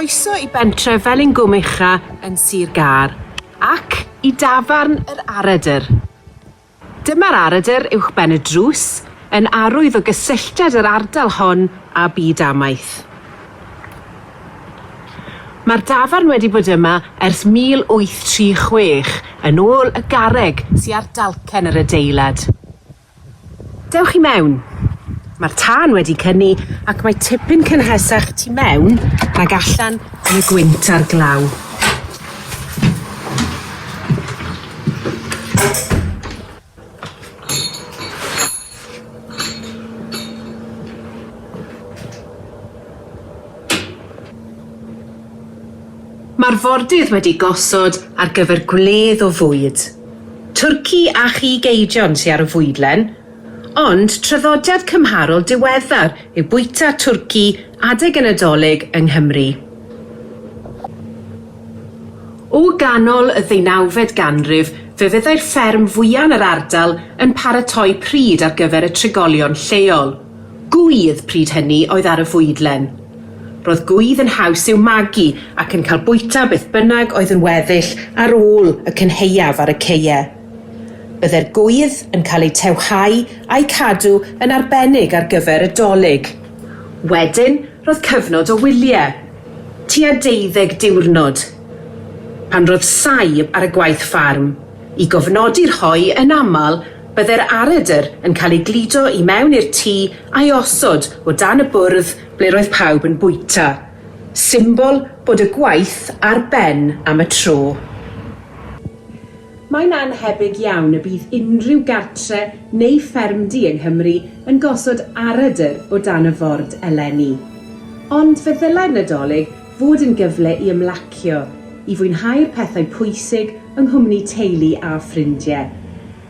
Croeso i bentre Felingwm-ucha yn Sir Gâr, ac i dafarn yr Aredr. Dyma'r aredr uwchben y drws, yn arwydd o gysylltiad yr ardal hon â byd amaeth. Mae'r dafarn wedi bod yma ers 1836, yn ôl y garreg sy ar dalcen yr adeilad. Dewch i mewn. Mae'r tân wedi cynnu ac mae tipyn cynhesach tu mewn nag allan yn y gwynt a'r glaw. Mae'r fordydd wedi gosod ar gyfer gwledd o fwyd. Twrci a chig eidion sy ar y fwydlen, ond traddodiad cymharol diweddar yw bwyta twrci adeg y Nadolig yng Nghymru. O ganol y ddeunawfed ganrif fe fyddai'r fferm fwya' yn yr ardal yn paratoi pryd ar gyfer y trigolion lleol. Gŵydd, pryd hynny, oedd ar y fwydlen. Roedd gŵydd yn haws i'w magu ac yn cael bwyta beth bynnag oedd yn weddill ar ôl y cynhaeaf ar y ceue. Byddai'r gŵydd yn cael eu tewhau a'u cadw yn arbennig ar gyfer y Dolig. Wedyn roedd cyfnod o wyliau. tua deuddeg diwrnod, pan roedd saib ar y gwaith ffarm, i gofnodi rhoi yn aml byddai'r aredr yn cael ei gludo i mewn i'r tŷ a'i osod o dan y bwrdd ble roedd pawb yn bwyta, symbol bod y gwaith ar ben am y tro. Mae'n annhebyg iawn y bydd unrhyw gartre neu ffermdy yng Nghymru yn gosod aradr o dan y ford eleni. Ond fe ddylai'r Nadolig fod yn gyfle i ymlacio, i fwynhau'r pethau pwysig yng nghwmni teulu a ffrindie,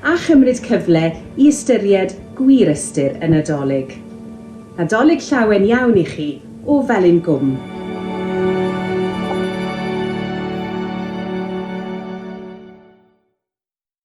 a chymryd cyfle i ystyried gwir ystyr y Nadolig. Nadolig llawen iawn i chi o Felin Gwm.